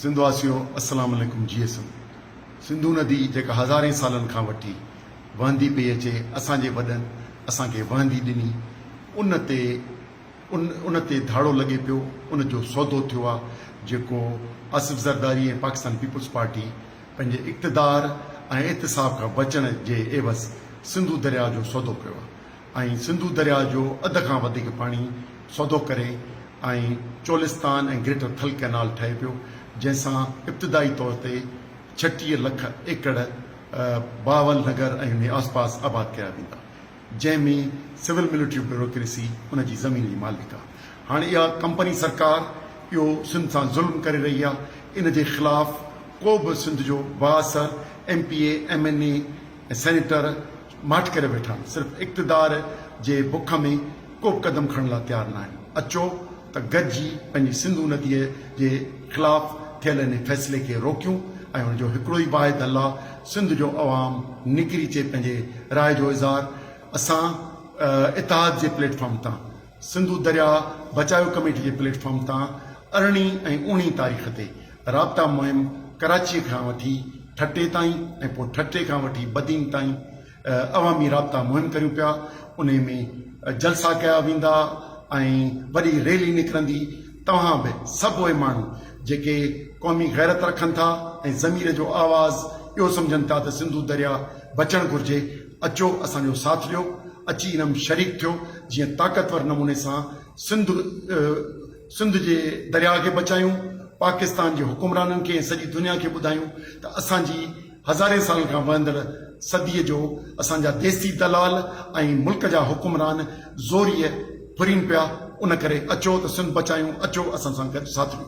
سنڌ واسيو السلام عليڪم جي ايس ايم سنڌو ندي جيڪا هزارين سالن کان وٺي وهندي پئي اچي اسان جي وڏن اسان کي وهندي ڏني ان تي ان ان تي ڌاڙو لڳي پيو ان جو سودو ٿيو آ جيڪو آصف زرداري ۽ پاڪستان پيپلز پارٽي پنهنجي اقتدار ۽ احتساب کان بچڻ جي عيوض سنڌو درياء جو سودو ڪيو آ ۽ سنڌو درياء جو اڌ کان وڌيڪ پاڻي سوڌو ڪري ۽ چولستان ۽ گريٽر ٿل ڪئنال ٺهي پيو، جنهن سان ابتدائي طور تي ڇٽيهه لک ايڪڙ بهاول نگر ۽ انهي آسپاس آباد ڪيا ويندا، جنهن ۾ سول ملٽري بيوروڪريسي ان جي زمين جي مالڪ آ. هاڻ اها ڪمپني سرڪار اهو سنڌ سان ظلم ڪري رهي آ، ان جي خلاف ڪو به سنڌ جو بااثر M P A, M N A ۽ senator, ماٺ ڪري ويٺا آهن صرف اقتدار جي بک ۾ ڪوبه قدم کڻڻ لا تيار ناهن اچو ته گڏجي پنهنجي سنڌو نديء جي خلاف ٿيل انهي فيصلي کي روڪيون ۽ ان جو هڪڙو ئي واحد حل آ سنڌ جو عوام نڪري چي پنهنجي راء جو اظهار اسان اتحاد جي پليٽ فارم تان سنڌو درياء بچايو ڪميٽي جي پليٽ فارم تان ارڙهين ۽ اوڻيهين تاريخ تي رابطا مهم ڪراچيء کان وٺي ٺٽي تائين ۽ پوء ٺٽي کان وٺي بدين تائين عوامي رابطا مهم ڪريون پيا انهي ۾ جلسا ڪيا ويندا ۽ وڏي ريلي نڪرندي توهان به سڀ اهي ماڻهو جيڪي قومي غيرت رکن ٿا ۽ ضمير جو آواز اهو سمجهن ٿا ته سنڌو درياء بچڻ گهرجي اچو اسان جو ساٿ ڏيو اچي ان م شريڪ ٿيو جيئن طاقتور نموني سان سنڌ سنڌ جي درياء کي بچايون پاڪستان جي حڪمرانن کي ۽ سڄي دنيا کي ٻڌايون ته اسان جي هزارين سالن کان وهندڙ صدي جو اسان جا ديسي دلال ۽ ملڪ جا حڪمران زوريء ڦرين پيا ان ڪري اچو ته سنڌ بچايون اچو اسان سان گڏ ساٿ ڏيو.